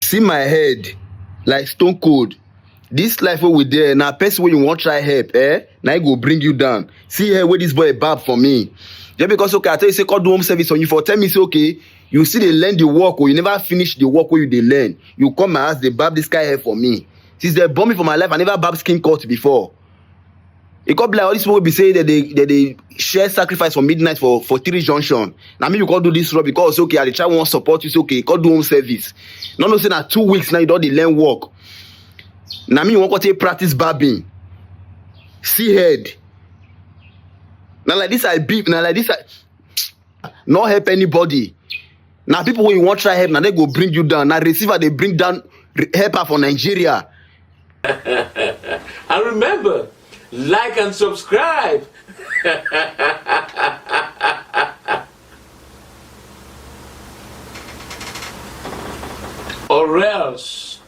see my head like stone cold this life wey we dey na person wey you wan try help eh na him go bring you down see here wey this boy bab for me just because okay i tell you say come do home service on you for tell me say okay you still dey learn the work or oh, you never finish the work wey you dey learn you come my house dey bab this kind hair for me since dem born me for my life i never bab skin cut before e come be like all these people wey be say dem dey dem dey share sacrifice for midnight for for three junction na me you come do this rub because okay i dey try wan support you say okay come do home service no know say na two weeks now you don dey learn work na me you wan come take practice barbing see head na like this i be na like this i no help anybody na people wey you wan try help na dem go bring you down na receiver dey bring down helper for nigeria. and remember like and subscribe. or else.